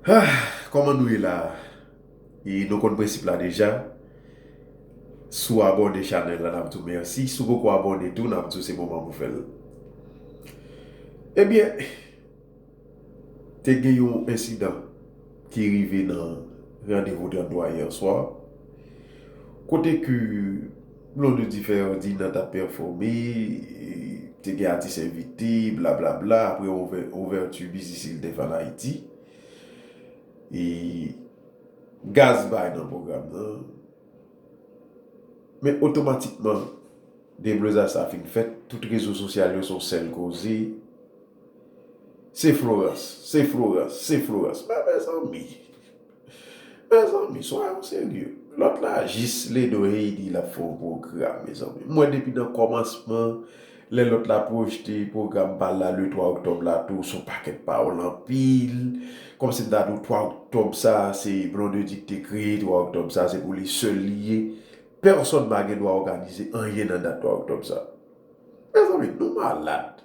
Ahh kòman nou ye la e nou konn prensip la deja si w abòne chanèl la nap di w mèsi si w poko abòne tou nap di w se moman pou fè l ebyen te gen yon ensidan ki rive nan randevou 33 yèswa kote ke Blo de di fè yon Dina tap pèfome, te gen atis envite, bla bla bla, apre ouverture biznis il def an Ayiti. E gaz bay nan pwogram nan. Men otomatikman deblozaj sa fin fèt, tout rezo sosyal yo son sèl koze. Se Florans, se Florans, se Florans. Men mezanmi, mezanmi soyons serieux. Lòt la jis ledo hey di lap fè yon pwogram mezanmi. M wè depi nan kòmansman lè lòt la pwojte pwogram pa l la le 3 oktòb la tou son pakèt pawòl anpil. Kòmsi m ta di w 3 oktòb sa se Blondedy ki te kreye 3 oktòb sa se pou li sèl li ye. Pèsòn pa gen dwa òganize anyen nan dat 3 oktòb sa. Mezanmi nou malad.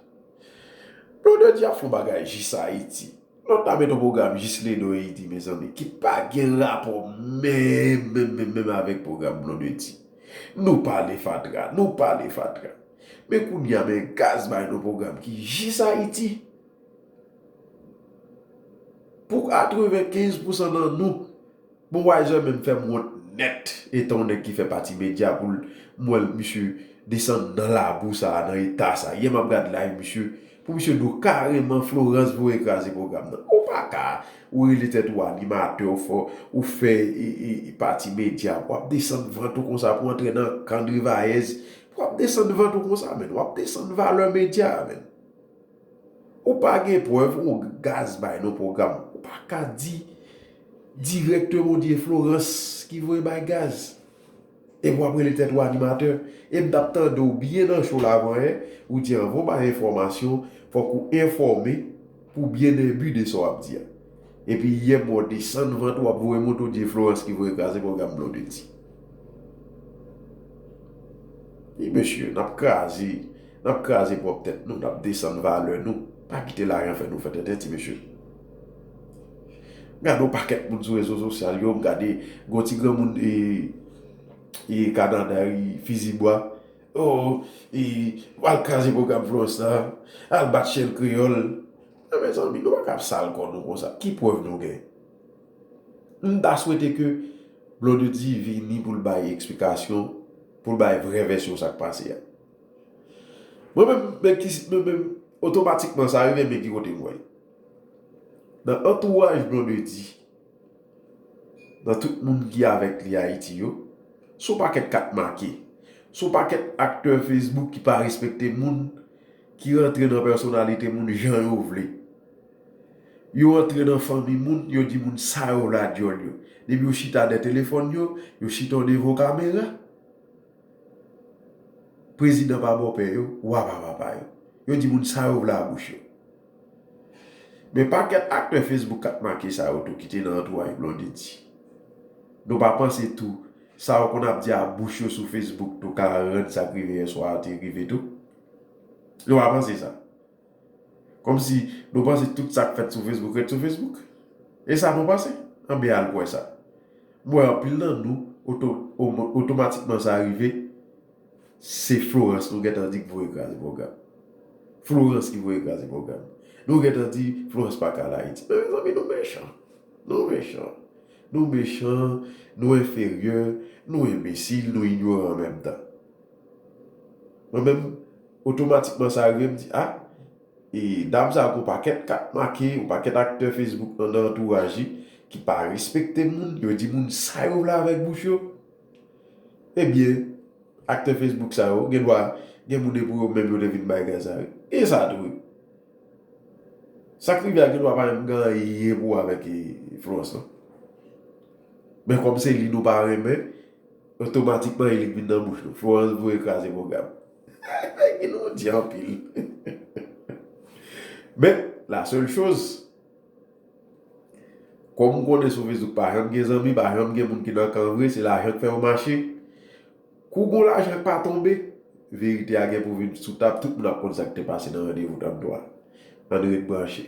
Blonde di ap fon bagay jis ayiti. Lòt la met on pwogram jis Ledo e Idi mezanmi ki pa gen rapò menm menm menm menm avèk pwogram Blondedy. Nou pale fatra, nou pale fatra. Men kounye a men gaz bay nou pwogram ki jis ayiti. Pou 95 pousan nan nou. Bon Wiser menm fèm wont nèt etan yon nèg ki fè pati media poul m wèl misye desann nan labou sa nan eta sa yè map gad live misye pou misye do kareman Florence voye kraze program nan ou paka ou rele tèt ou animatè ou fè ou fè pati media pou wap desann vant ou konsa pou antre nan kan drivayèz pou wap desann vant ou konsa menn wap desann valè media a menn. Ou pa gen prèv ou gaz bay non program. Ou pa ka di directement ou di e Florence ki voye bay gaz. Epi wap rele tèt ou animatè. Em tap tande w byen nan show la avan yè, ou di anvan w bay enfòmasyon, fòk ou enfòme pou byen enbi de sa wap di a. Epi yè m wè w desann vant ou wap voye monte ou di e Florence ki voye kraze program Blondedy. Mesye nap kraze. Nap kraze pwòp tèt nou, nap desann valè nou, pa kite lajan fè nou fè tenten ti mesye. M gade yon pakèt moun sou rezo sosyal yo, m gade gon ti granmoun e kanada wi fizi bwa, oh e al kraze pwogram florence la, al bat chèn kreyòl, men mezanmi nou pa ka ap sal kò nou konsa, ki prèv nou gen? M ta swete ke Blondedy vini pou l bay eksplikasyon, pou l bay vrè vèsyon sa k pase a. Mwen menm men ki mwen menm otomatikman sa rive men ki kote mwen. Nan antouraj Blondedy, nan tout moun ki avèk li Ayiti yo, son pakèt kat make. Son pakèt aktè Facebook ki pa respekte moun, ki rantre nan pèsonalite moun jan yo vle. Yo antre nan fanmi moun, yo di moun sa yo vle a dyòl yo. Depi yo chita dè telefòn yo, yo chita devan yon kamera. Prezidan pa bòpè yo, wa pa papa yo. Yo di moun sa yo vle a bouch yo. Men pakèt aktè Facebook kap make sa yo tou ki te nan antouraj Blondedy. Nou pa panse tou sa yo konn ap di a bouch yo sou Facebook tou ka rann sa k rive yèswa a te rive tou? Nou pa panse sa? Kòmsi nou panse tout sa k fèt sou Facebook ret sou Facebook? E sa nou panse? Anben al kwè sa. M wè anpil nan nou otomatikman sa rive se Florence nou gentan di k voye kraze pwogram. Florence ki voye kraze pwogram. Nou gentan di Florence pa ka al Ayiti. Men mezanmi nou mechan. Nou mechan. Nou mechan, nou enferyè, nou enbesil, nou inyoran an menm tan. Mwen menm otomatikman sa rive m di ah e dam sa gon pakèt kat make yon pakèt aktè Facebook nan nan antouraj li ki pa respekte moun yo di moun sa yo vle avèk bouch yo ebyen aktè Facebook sa yo gen dwa gen moun e pou yo menm yo te vin bay gaz la wi e sa tou wi sak rive a gen dwa pa menm gen anyen pou wè avèk Florence nan men kòm se li nou pa renmen. Otomatikman elik vin nan bouch nou. Florence voye kraze pwogram. Peggy nou di anpil. Men, la sèl choz. Kòm ou konnen sou Facebook pa janm gen zanmi, pa janm gen moun ki nan kan vre, se lajan k fè yo mache. Kou gon lajan k pa tonbe, verite a gen pou vin sou tab, tout moun ap konn sa k te pase nan randevou 33. Ann ret branche.